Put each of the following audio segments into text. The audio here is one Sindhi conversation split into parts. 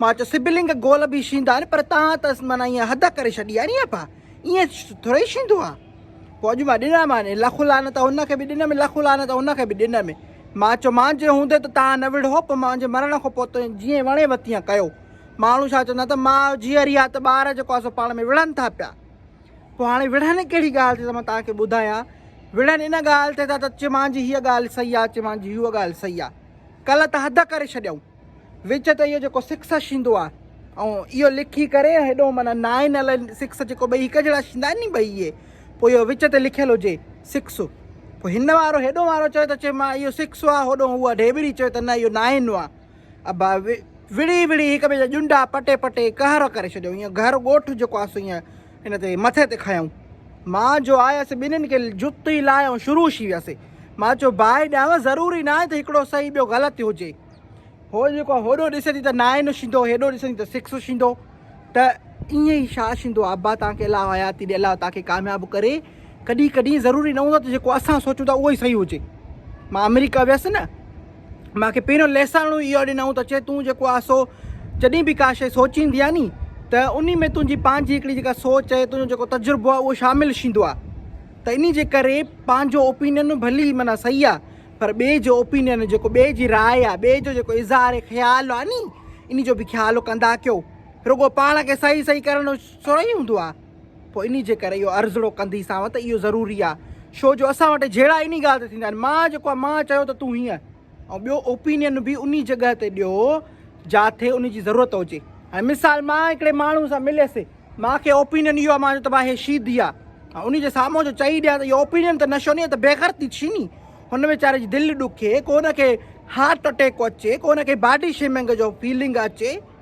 مان چيو سبلنگ گول به شيندا آهن پر تان ته معنيٰ ايئن حد ڪري ڇڏي آهي ني ابا ايئن ٿورئي شيندا آهن پوء اڄ مان ڏنا مان لک لعنت هن کي به ڏنم لک لعنت هن کي به ڏنم مان چيو مان جي هوندي ته تان نه وڙهو پوء مان جي مرڻ کان پوء تنهن جيئن وڻي وتيئن ڪيو ماڻهو ڇا چوندا ته ماء جيئري آهي ته ٻار جيڪو آهي سو پاڻ ۾ وڙهن ٿا پيا پوء هاڻي وڙهن ڪهڙي ڳالهه تي ته مان تان کي ٻڌايان وڙهن ان ڳالهه تي ته چي مان جي هيء ڳالهه صحيح آهي چي مان جي هوء ڳالهه صحيح آهي ڪلهه ته حد ڪري ڇڏيائون وچ تي اهو جيڪو سڪس شيندو آ ائون اهو لکي ڪري هيڏو معنيٰ نائن الائن سڪس جيڪو ٻئي هڪ جهڙا شيندا آهن ني ٻئي اهي پوء اهو وچ تي لکيل هجي سڪس پوء هن وارو هيڏو وارو چوي ته چي مان اهو سڪس آ هوڏو هو اها ڍيٻري چوي ته نه اهو نائن آ ابا وڙهي وڙهي هڪ ٻئي جا ڄنڊا پٽي پٽي قهر ڪري ڇڏيو اهو گهر ڳوٺ جيڪو آ سو اهو ان تي مٿي تي کنيائون. مان جو آيس ٻنهين کي جتي لاهي ۽ شروع شي ويس. مان چيو باهه ڏيانوس ضروري ناهي ته هڪڙو صحيح ٻيو غلط ٿي هجي. هو جيڪو آهي هوڏو ڏسي ٿي ته نائن شيندو هيڏو ڏسي ٿي ته سڪس شيندو ته ائين ئي شا شيندو ابا توهان کي الله حياتي ڏي الله توهان کي ڪامياب ڪري ڪڏهن ڪڏهن ضروري نه هوندو ته جيڪو اسان سوچون ٿا اهو ئي صحيح هجي مان آمريڪا ويس نه مان کي پهريون ليساڻو اهو ڏنائون ته چي تون جيڪو آهي سو جڏهن به ڪا شيء سوچيندي آهي ني ته انهي ۾ تنهنجي پنهنجي هڪڙي جيڪا سوچ ۽ تنهنجو جيڪو تجربو آهي اهو شامل شيندو آهي ته انهي جي ڪري پنهنجو اوپينين ڀلي معنيٰ صحيح آهي پر ٻئي جو اوپينين جيڪو ٻئي جي راء آهي ٻئي جو جيڪو اظهار خيال آهي ني انهي جو به خيال ڪندا ڪيو رڳو پاڻ کي صحيح صحيح ڪرڻ جو ٿورئي هوندو آهي. پوء انهي جي ڪري اهو عرضڙو ڪنڌي سانوء ته اهو ضروري آ شو جو اسان وٽ جهيڙا انهي ڳالهه تي ٿيندا آهن مان جيڪو آ مان چيو ته تون هيئن ۽ ٻيو اوپينين به انهي جڳهه تي ڏيو جاٿي انهي جي ضرورت هجي هاڻي مثال مان هڪڙي ماڻهو سان مليس مان کي اوپينين اهو آ مان چيو ته ڀاء هي شيدي آ ۽ انهي جي سامهون جو چئي ڏيان ته اهو اوپينين ته نشو ني ته بيغرتي ٿي ني هن ويچاري جي دل ڏکي ڪو هن کي هارٽ اٽيڪ اچي ڪو هن کي باڊي شيمنگ جو فيلنگ اچي.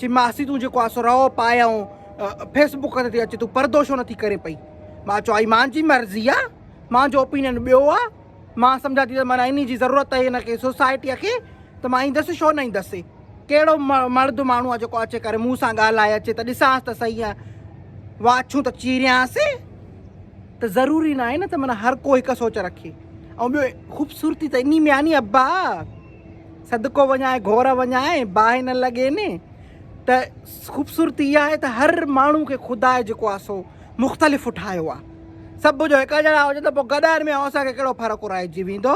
چي ماسي تون جيڪو آسو رئو پائي ائون فيس بڪ تي اچي تون پردو شو نٿي ڪرين پئي مان چو آئي مان جي مرضي آ مان جو اوپينين ٻيو آ مان سمجھا تي مانا اني جي ضرورت آ ان کي سوسائٽي کي ته مان ايندس شو نه ايندس ڪهڙو مرد ماڻهو آ جيڪو اچي ڪري مون سان ڳالهائي اچي ته ڏسانس ته صحيح آ واڇون ته چيريانس ته ضروري نه آهي نه ته مانا هر ڪو هڪ سوچ رکي ۽ ٻيو خوبصورتي ته اني ۾ آ ني ابا صدقو وڃان ۽ گهور وڃان ۽ باهه نه لڳين ته خوبصورتي اها آهي ته هر ماڻهو کي خدا جيڪو آهي سو مختلف ٺاهيو آهي سڀ جو هڪ جهڙا هجن ته پوء گڏائن ۾ اسان کي ڪهڙو فرق ورائجي ويندو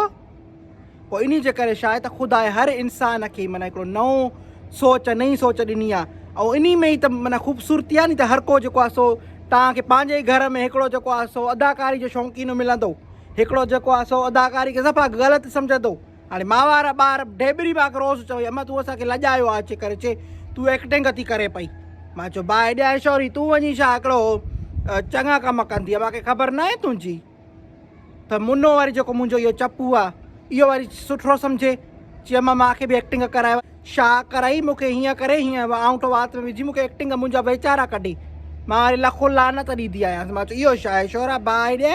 پوء انهي جي ڪري شايد ته خدا هر انسان کي معنی هڪڙو نئون سوچ نئين سوچ ڏني آهي ۽ انهي ۾ ئي ته معنی خوبصورتي آهي ني ته هر ڪو جيڪو آهي سو توهان کي پنهنجي ئي گهر ۾ هڪڙو جيڪو آهي سو اداڪاري جو شوقينو ملندو هڪڙو جيڪو آهي سو اداڪاري کي صفا غلط سمجهندو هاڻي ماء وارا ٻار ڍيبري ماڪ روز چوي اما تون اسان کي لڄايو آ اچي ڪري چي تون ايڪٽنگ ٿي ڪري پئي مان چو باء ايڏي ايشوري تون وڃي شا هڪڙو چڱا ڪم ڪندي ماکي خبر ناهي تنهنجي ته منو وري جيڪو منهنجو اهو چپو آ اهو وري سٺو سمجهي چي اما ماکي به ايڪٽنگ ڪرايو شا ڪرائي مونکي هيئن ڪري هيئن آئونٽو وات ۾ وجهي مونکي ايڪٽنگ منهنجا ويچارا ڪڍي مان وري لکو لعنت ڏيندي آهيان مان چو اهو شا ايشورا باء ايڏي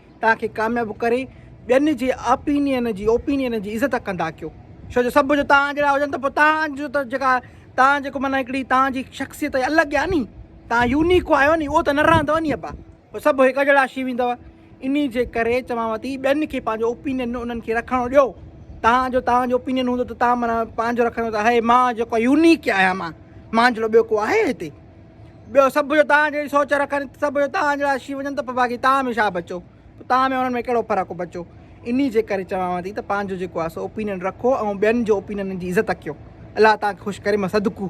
توهان کي ڪامياب ڪري ٻين جي آپينين جي اوپينين جي عزت ڪندا ڪيو ڇو جو سڀ جو توهان جهڙا هجن ته پوء توهان جو ته جيڪا توهان جيڪو معنيٰ هڪڙي توهان جي شخصيت هي الڳ آهي ني توهان يونيڪ آهيو ني اهو ته نه رهندو ني ابا پوء سڀ هڪ جهڙا شي ويندو انهي جي ڪري چوانو ٿي ٻين کي پنهنجو اوپينين انهن کي رکڻو ڏيو توهان جو توهان جو اوپينين هوندو ته توهان معنيٰ پنهنجو رکندو ته هي مان جيڪو يونيڪ آهيان مان مانجهڙو ٻيو ڪو آهي هتي. ٻيو سڀ جو توهان جهڙي سوچ رکن سڀ جو توهان جهڙا شي وڃن ته باقي توهان ۾ شاهه بچو توهان ۾ انهن ۾ ڪهڙو فرق بچو ان جي ڪري چوان ٿي ته پنهنجو جيڪو آسو اوپينن رکو ۽ ٻين جو اوپينن جي عزت ڪيو الله توهان کي خوش ڪري مصدقو